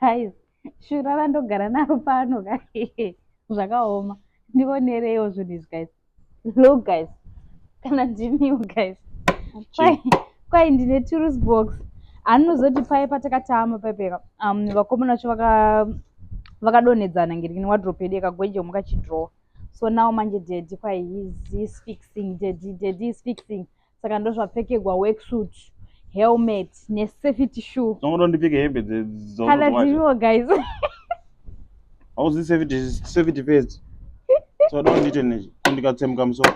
guys shura randogara naro pano ka zvakaoma ndionereiwo zvinhu izvi guys look guys kana ndimiwo guys kwai ndine tourist box anozoti paye patakatama paipeka um, vakomana vacho vakadonhedzana ngiri kune wadrop yedu yekagwenje mukachidrowa so now manje daddy kwai is fixing daddy daddy is fixing saka ndozvapfekegwa worksuit helmet nesafety shoe tinoda ndipfeke hembe kana dziriwo guys hauzi safety safety first soda undiite ne kundikatsemuka musoro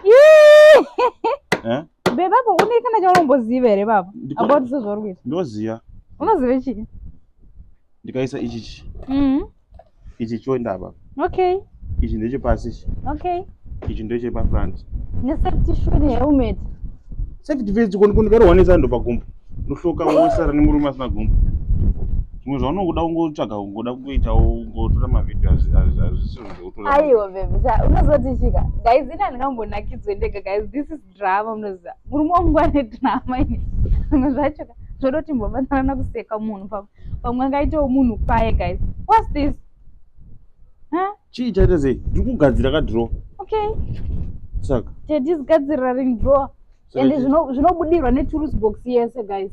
eh? bebapo une kana chaunomboziva here baba about sezvauri kuita ndoziva unoziva chii ndikaisa ichichi mm-hmm. ichi choenda apa okay ichi ndechepasi ichi okay ichi ndechepafront nesafety shoe nehelmet safety vest konikondikarwa nesando pagumbo ndohloka wosara nemurume asina gumbo zvimwe zvaunongoda kungotsvaga kungoda kungoitawo kungotora mavhidhio azvisizvo zvekutoaiwa bebe unozotichika gaizi ina ndingambonakidzwe ndega gaizi this is drama munoziva murume wangu ane drama ini zvimwe zvacho zvodoti mbobatsirana kuseka munhu pamwe pamwe angaitawo munhu paye guys whats this chii chaita sei ndiri kugadzira kadro okay saka tedi zigadzirira ring drawer ende zvinobudirwa neturusi box yese guys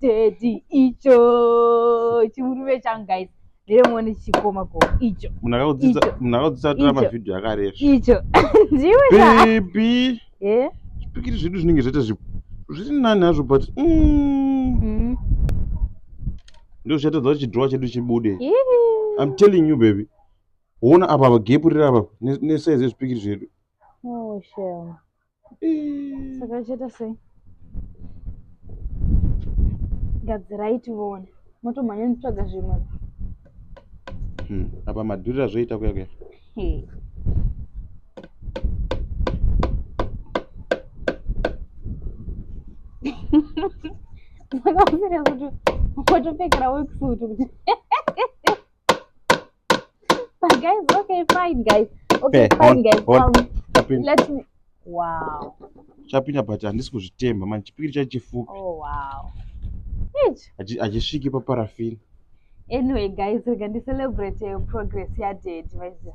Teddy icho chimurume changu guys nderemuone chichikoma ko icho munhu akakudzidza Icho. munhu akakudzidza kutora Icho. mavhidhiyo akarefu icho ndiwe ka bebi Eh? zvipikiri zvedu zvinenge zvaita zvi- zviri nani hazvo but mm, Mm. ndizvo zvatadza kuti chidhirowa chedu chibude Ihi. i'm telling you baby woona apa apa gepu riri apa ne- nesaizi yezvipikiri zvedu Oh, shame. saka achaita sei gadzirai tione motomhanya nitsvaga zvimwe hmm, apa madhurira zvoita kuya kuya makaomera kuti watopfekera weksutu kuti But guys, okay, fine, guys. Okay, hey, fine, on, guys. On. Um, let me. Wow. Chapinda but handisi kuzvitemba manje chipikiri chacho chifupi. Oh wow. Hachisviki paparafini. Anyway guys, rega ndi celebrate progress ya daddy, my dear.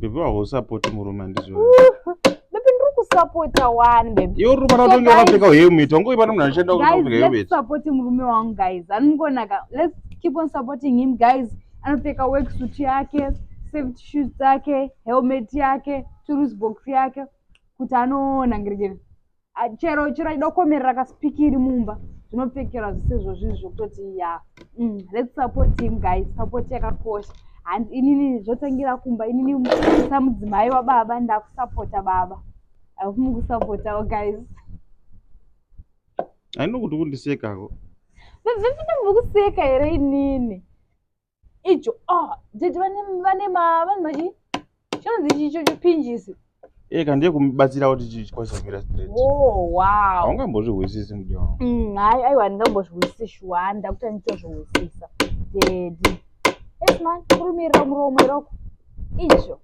Baby waho support murume andizvo. Baby ndiri kusupport wani baby. Yo rume na tonge wakapfeka uye miti wangu ipana munhu anoshanda kutopfeka uye miti. Support murume wangu guys. Anongonaka. Let's keep on supporting him guys. Anopfeka work suit yake, safety shoes dzake, helmet yake, tools box yake kuti anoona ngirijeri. Ah, chero chero aida kukomerera kasipikiri mumba zvinopfekerwa zvisizvo zvinhu zvokutoti ya mm, let's support him guys support yakakosha handi inini zvotangira kumba inini samudzimai wababa ndakusapota baba akufumi kusapotawo guys ainokuti kundisekako vavhevina mukuseka here inini icho ah dzidzi vane vane ma vane machi chinonzi chicho chipinjisi eh kana ndiye kubatsira kuti chikwanise kumira straight oh wow haungambozvihwisisi mudiwa wangu mm hayi ayi handingambozvihwisisi shuwa handa kuti anditozvihwisisa dedi yes man kurumirira muromo iroko icho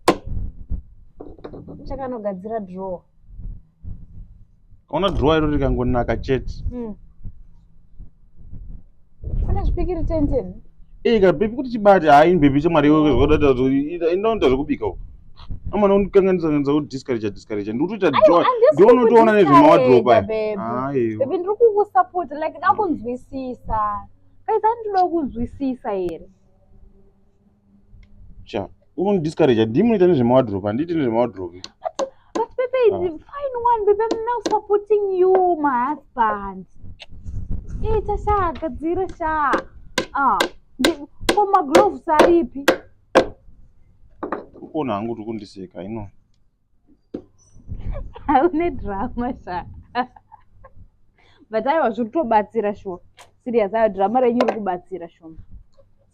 chakanogadzira drawer Ona drawer iro rikangonaka chete. Mm. Kana zvipikiri 10 10. Eh ka baby kuti chibati hayi ah, baby chemari iwe zvoda ita inoita zvekubika uko. Amana undikanganisa kanisa kuti discourage discourage ndikutoita joy. Ndiwe unotoona nezvemawadrobe aya. Hayi. Ah, baby ndiri kukusupport like ndakunzwisisa. Kai zandinoda kunzwisisa here? Cha, uri kundidiscourage, handii munoita nezvemawadrobe, handiiti nezvemawadrobe. But Pepe is Ah. fine one, Pepe I'm now supporting you, my husband. Ita sha, gadzira sha. Ah, ndi- ko magloves aripi? Ukuona hangu kuti kundiseka, I know. haune drama sha but aiwa zviri kutobatsira shuwa serious aiwa drama renyu riri kubatsira shoma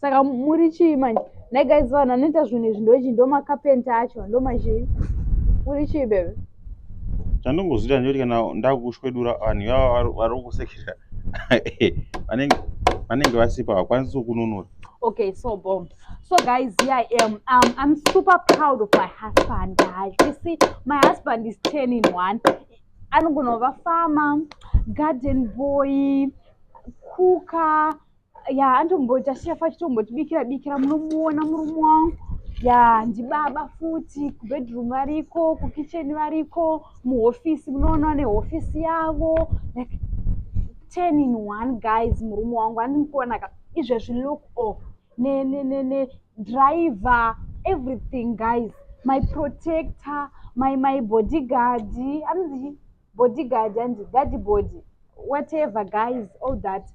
saka muri chii manje nai guys vanhu anoita zvinhu izvi ndochi ndomakapenta acho ndomachii muri chii bebe chandongozoita ndiyoti kana ndakushwedura vanhu ivava vari kusekera vanenge vasipa vakwanisi kununura okay so bombs So guys, here I am. Um, I'm super proud of my husband, guys. You see, my husband is 10 in 1. I'm gonna have a farmer, garden boy, cooker. Yeah, I'm going to just share for you. I'm going to be here, be here. I'm going to be here. I'm going to be here. ya ndibaba futi kubedroom variko kukitchen variko muhofisi munoona nehofisi yavo like ten in one guys murume wangu andikuonaka izvezvi look off ne ne ne ne driver everything guys my protector my my bodyguard anonzi bodyguard anzi guard body whatever guys all that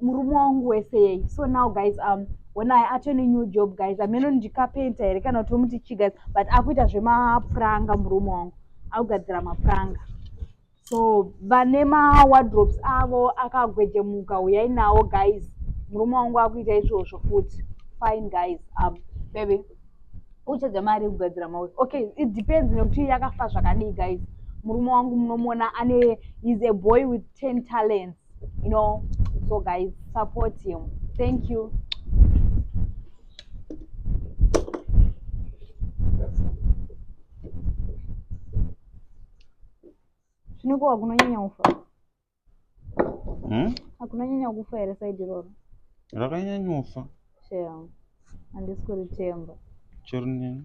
murume wangu wese yei so now guys um when i atone new job guys ameno ndikapenta here kana kuti omuti chi guys but akuita zvemapuranga murume wangu akugadzira mapuranga so vane mawardrobes avo akagwejemuka huyai nawo guys murume wangu akuita izvozvo futi fine guys um, baby uchadza mari yekugadzira mauri okay it depends nekuti yakafa zvakadii guys murume wangu munomuona ane is a boy with ten talents you know so guys support him thank you Zvino ko hakunonyanya kufa? Hmm? Hakunonyanya kufa here saidi iroro? Rakanyanyofa. Shem. Handisi kuritemba. Chero nini.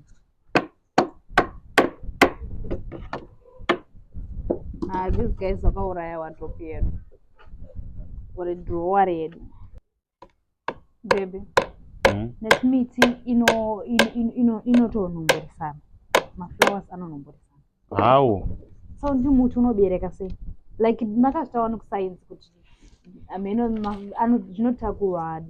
Ah, these guys vakauraya watopi yedu. Uri drawer yedu. bebe hmm? nekuti miti inotonomboresana maflowers anonomboresana hawo so ndi muti unobereka sei like makazvitawa nekusainzi kuti hameno zvinotakurwa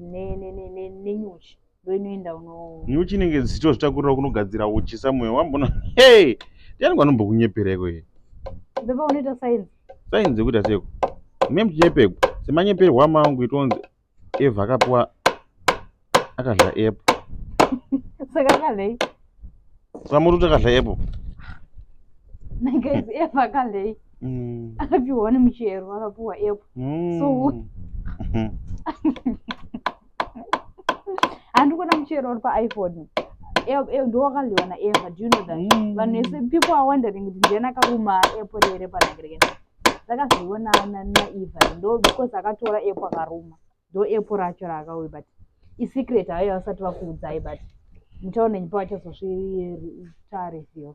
nenyuchi ndoinoenda uno nyuchi inenge dzichitozvitakurira kunogadzira uchi somewhere wambona hey ndiani kwanombokunyepera iko ye baba unoita sainzi sainzi yekuita seko mune muchinyepegwa semanyeperwa amangu itonzi eva akapiwa akadla app saka akadlei samuri kuti akadla app nagaizi eva akadlei mm. akapiwa nemuchero akapiwa app mm. so handi kuona muchero uri paiphone ndowakadyiwa naeva do you know that mm. vanhu vese people are wondering kuti ndiani akaruma epo rere panakirekeni ndakazviona naeva ndo because akatora epo akaruma ndo epo racho raakauye but isecret hayo vasati vakuudzai but muchaona nyipa vachazozvitareveal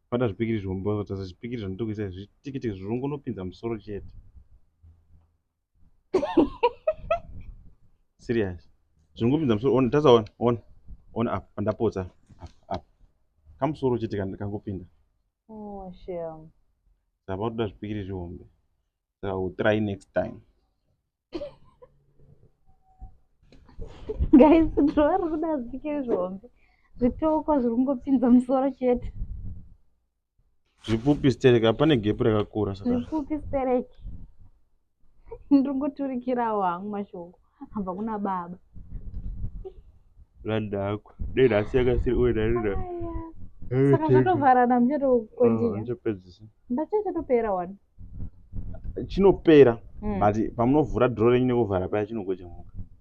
Bata zvipikiri zvihombe wazotasa zvipikiri zvandiri kuisa izvi zvitikitiki zvirongonopinza musoro chete. Serious. Zviringopinza musoro ona tasa ona ona ona apa pandapotsa apa apa. Kamusoro chete kan- kangopinda. Oh, shame. Saka unoda zvipikiri zvihombe. Saka we'll try next time. guys ndova ri kuda zvike zvihombe zvitoko zviri kungopinza musoro chete zvipfupi stereki hapane gepu rakakura saka zvipfupi stereki ndiri kuturikirawo hangu mashoko hamba kuna baba randakwa dei nhasi yakasiri uye ndarira saka zvatovharana muchatokondiya ah, ndachachatopera wani chinopera but pamunovhura draw renyu nekuvhara paya chinogocha mhuka.